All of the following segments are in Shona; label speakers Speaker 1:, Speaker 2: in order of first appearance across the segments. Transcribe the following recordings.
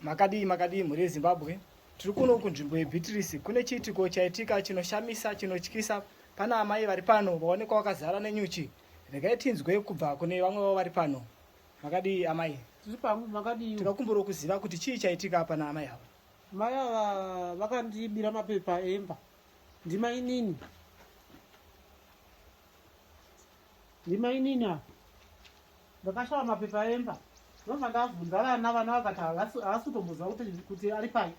Speaker 1: Makadii makadii mhuri yeZimbabwe. Tiri kuno kunzvimbo yeBeatrice kune chiitiko chaitika chinoshamisa chinotyisa. Pana amai vari pano vaonekwa vakazara nenyuchi. Regai tinzwe kubva kune vamwe vavo vari pano. Makadii amai? Tiri pano makadii? Tikakumbura kuziva kuti chii chaitika pana amai ava. Mai ava
Speaker 2: vakandibira mapepa emba. Ndimainini. Ndimainini apa. Ndakashava mapepa emba ndobva ndavhunza vana vana vakati havasi havasi kutomboziva kuti kuti ari pai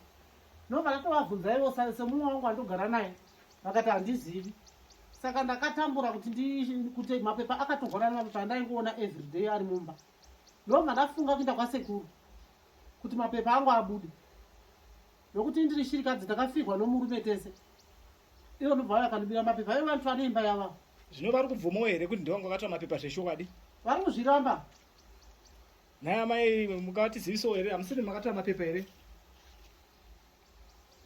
Speaker 2: ndobva ndatovavhunza ivo sa- semumwe wangu wandogara naye vakati handizivi saka ndakatambura kuti ndi kuti mapepa akatogorana mapepa andaingoona everyday ari mumba ndobva ndafunga kuenda kwasekuru kuti mapepa angu abude nokuti ndiri shirikadzi ndakafirwa nomurume tese ivo ndobva vaya kandibira mapepa ivo vantu vane imba yavavo zvino vari kubvumawo
Speaker 1: here kuti ndivanga vakatora mapepa zveshokwadi vari kuzviramba nhai amai mukavatizivisawo here hamusiri makatora mapepa here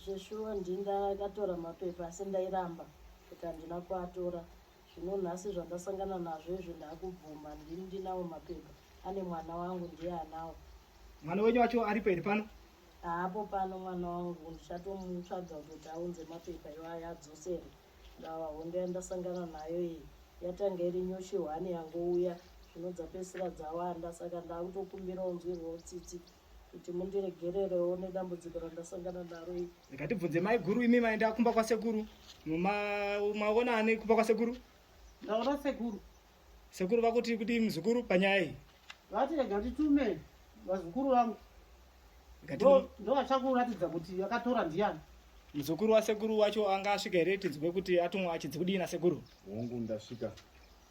Speaker 3: zveshuwa ndindakatora mapepa asi ndairamba kuti handina kuatora zvino nhasi zvandasangana nazvo izvo ndakubvuma ndini ndinawo mapepa ane mwana wangu ndiye anawo mwana wenyu wacho
Speaker 1: aripo here pano Haapo pano
Speaker 3: mwana wangu ndichatomutsvaga kuti aunze mapepa iwaya adzosere ndava hondo yandasangana nayo iyi yatanga iri nyuchi hwani yangouya zvino dzapesira dzawanda saka ndakutokumbira unzwirwawo tsitsi kuti mundiregererewo nedambudziko randasangana naro iri ndikatibvunze maiguru
Speaker 1: imi maenda kumba kwasekuru maona ane kumba kwasekuru ndaona
Speaker 2: sekuru Sekuru vakuti
Speaker 1: kuti mzukuru panyaya iyi. Vati rega
Speaker 2: nditume vazukuru vangu. Ndo achakuratidza kuti akatora ndiani. Mzukuru wasekuru
Speaker 1: wacho anga asvika here tinzwe kuti atumwa achinzi kudii nasekuru? Hongu ndasvika.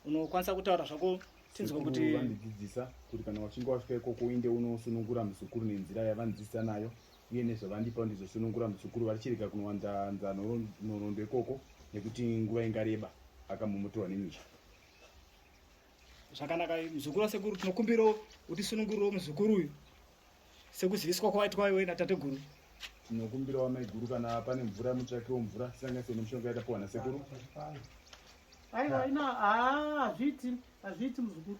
Speaker 4: Unokwanisa
Speaker 1: kutaura zvako tinzwe kuti vandidzidzisa kuti
Speaker 4: kana wachinge wasvika ikoko uinde unosunungura mzukuru nenzira yavandidzidzisa nayo uye nezvavandipa ndizosunungura muzukuru vachirega kunowanzanza nhoroondo ikoko nekuti nguva ingareba akamomotorwa nemisha
Speaker 1: zvakanaka muzukuru wasekuru tinokumbirawo utisunungurirewo muzukuru uyu sekuziviswa kwawaitwa iwe natateguru tinokumbirawo
Speaker 4: maiguru kana pane mvura mutsvakiwo mvura sanganise nemushonga yatapiwa nasekuru aiwa
Speaker 2: ina hazviiti hazviiti muzukuru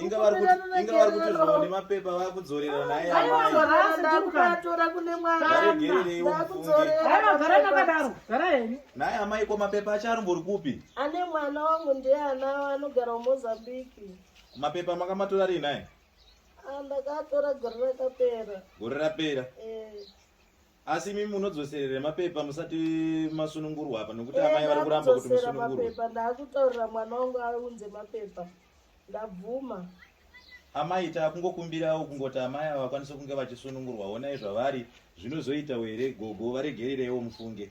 Speaker 2: inga vari kuti- inga
Speaker 5: vari kuti zvimwe nemapepa vakudzorera naye vakutora kune
Speaker 3: mwana varegerereiwo mufunge
Speaker 5: ndakudzorera Gara gara
Speaker 2: nakadaro. Gara henyu. naye amai ko mapepa
Speaker 5: acho arimbori kupi ane mwana wangu
Speaker 3: ndiye anawo anogara mozambique mapepa
Speaker 5: makamatora rii naye Ah, ndakatora
Speaker 3: gore rakapera gore rapera
Speaker 5: Eh, asi imi munodzoserere mapepa musati masunungurwa apa nokuti eh, amai vari kuramba kuti musunungurwemapepa ndakutaurira
Speaker 3: mwana wangu aunze mapepa ndabvuma
Speaker 5: amai takungokumbirawo kungoti amai ava vakwanise kunge vachisunungurwa onai zvavari zvinozoita were gogo varegerereiwo mufunge